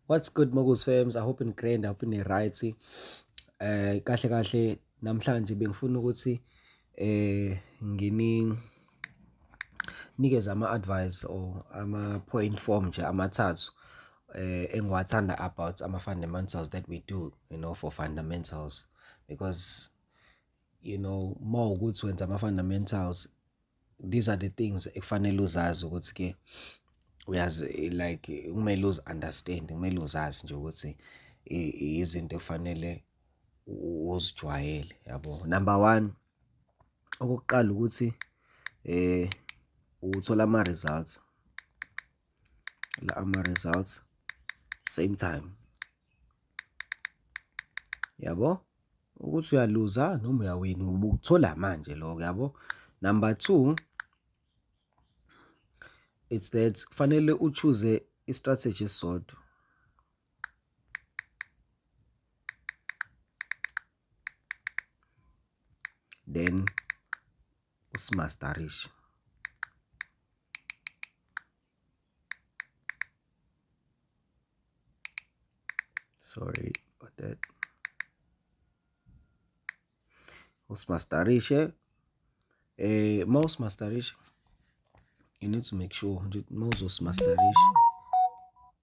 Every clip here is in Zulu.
What's good Mokus Fams? I hope in grand, I hope in right. Eh kahle kahle namhlanje bengifuna ukuthi eh ngini nikeze ama advice or ama point form nje amathathu eh engiwathanda about ama fundamentals that we do, you know, for fundamentals because you know more ukuthi wenza ama fundamentals these are the things ekufanele uzazi ukuthi ke uyazi like kumele uzi understand kumele uzazi nje ukuthi izinto ekufanele uzijwayele yabo number 1 okokuqala ukuthi eh uthola ama results la ama results same time yabo Ukuthi uyaluza noma uyawina ubukuthola manje lokho yabo. Number two, it's that kufanele uchoose i-strategy esisodwa. Then uSmastarish. Sorry about that. Usimastarishe. Eh, uma usimastarishe, you need to make sure ukuthi uma uzosimastarisha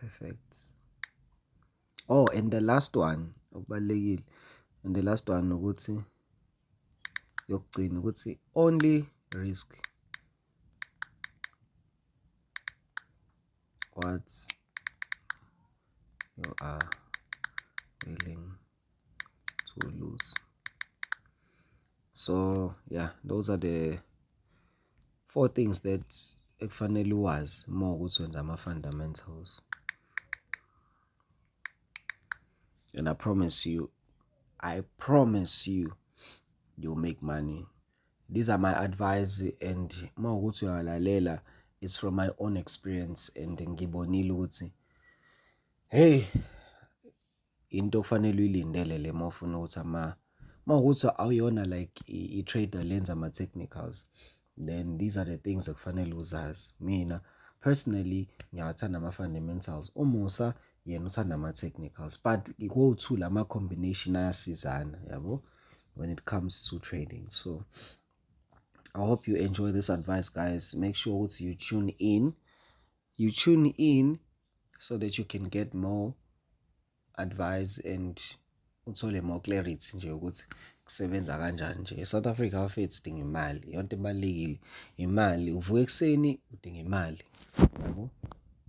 Perfect. Oh and the last one okubalulekile and the last one ukuthi yokugcina ukuthi only risk what you are willing to lose so yeah those are the four things that ekufanele uwazi uma ukuthi wenza ama-fundamentals and i promise you i promise you you'll make money these are my advice and uma ukuthi uyalalela it's from my own experience and ngibonile ukuthi hey into okufanele uyilindele le uma ufuna ukuthi ama uma ukuthi awuyona like i-trader lenza ama-technicals then these are the things ekufanele uzazi mina personally ngiyawathanda ama-fundamentals umusa yena uthanda ama-technicals but kowu-two la ma-combination ayasizana yabo when it comes to trading so i hope you enjoy this advice guys make sure ukuthi you tune in you tune in so that you can get more advice and uthole more clarity nje ukuthi kusebenza kanjani nje eSouth Africa bafethu sidinga imali yonke ebalekile imali uvuka ekuseni udinga imali yabo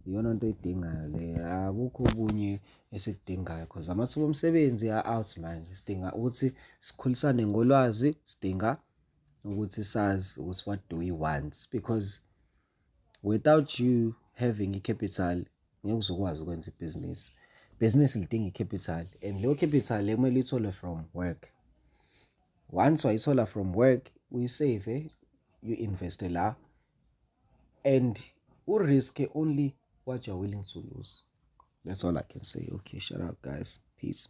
iyona nto oyidingayo le akukho okunye esikudingayo cause amathuba omsebenzi a-out manje sidinga ukuthi sikhulisane ngolwazi sidinga ukuthi sazi ukuthi what do we want because without you having i-capital ngeke uzokwazi ukwenza ibhizinisi bhizinisi lidinga i-capital and leyo capital ekumele uyithole from work once wayithola from work uyisave you-investe la and u-risk only what you're willing to lose that's all i can say okay shut up guys peace